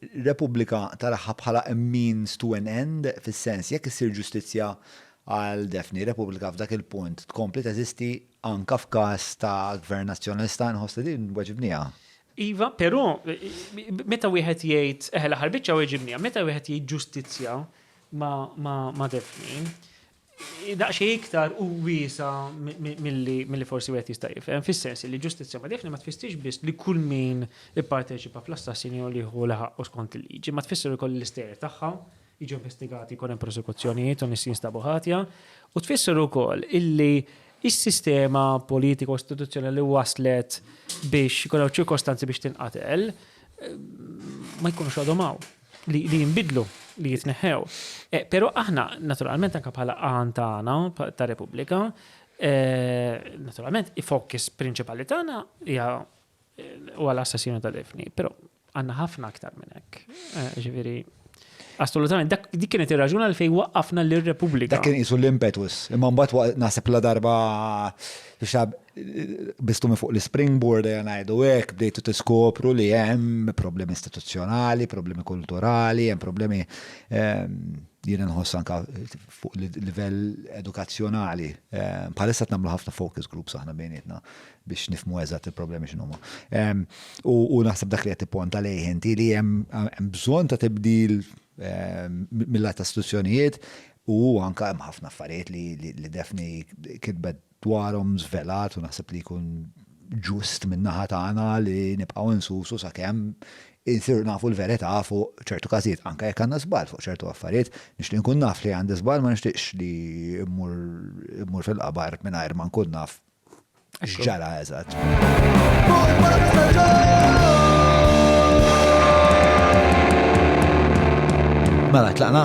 Repubblika taraha bħala a means to an end, fis-sens, jekk issir ġustizzja għal Daphne, Repubblika f'dak il-punt tkompli teżisti anke f'każ ta' Gvern Nazzjonalista? Inħoss li din weġibniha. Iva, però, meta wieħed jgħid, eħe l-aħħar biċċa weġibniha, meta wieħed jgħid ġustizzja ma' Daphne, daqsxejn iktar u wiesa' milli forsi wieħed jista' jifhem, fis-sens li ġustizzja modefni ma tfissirx biss li kull min ipparteċipa fl-assassinju li jieħu li ħaqqu skont il-liġi, imma tfisser ukoll li l-istejjer tagħha jiġu investigati, jkun hemm prosekuzzjonijiet u nies jinstabu ħatja, u tfisser ukoll illi s-sistema politika u istituzzjonali li wasslet biex ikun hawn ċirkostanzi biex tinqatel ma jkunux għadhom hawn. li jinbidlu, li jitneħħew. Eh, Pero aħna, naturalment, anka bħala għan tagħna ta' Repubblika, eh, naturalment, ifokis prinċipali tagħna hija eh, u għal assassinu ta' defni, pero għanna ħafna aktar minn hekk. Ġifieri, Assolutament, dak dik kienet ir-raġuna li fej waqqafna l-Repubblika. Dak kien isu l-impetus, imma mbagħad naħseb la darba bistu minn fuq l-springboard ejja ngħidu hekk, bdejtu tiskopru li hemm problemi istituzzjonali, problemi kulturali, hemm problemi ehm, jien nħoss anka fuq livell edukazzjonali. Ehm, bħalissa qed nagħmlu ħafna focus groups aħna bejnietna biex nifmu eżatt il-problemi x'inhuma. Ehm, u naħseb dak li qed tipponta lejh inti li hemm bżonn ta' tibdil mill-lat istituzzjonijiet u anka hemm ħafna affarijiet li defni kitbet dwarhom żvelat u naħseb li jkun ġust min-naħa tagħna li nibqgħu nsusu sakemm insiru nafu l-verità fuq ċertu każijiet, anke jekk għandna żball fuq ċertu affarijiet. Nixtieq inkun naf li għandi żball, ma nixtieqx li mmur fil-qabar mingħajr ma nkun naf x'ġara eżatt. Mela tlaqna.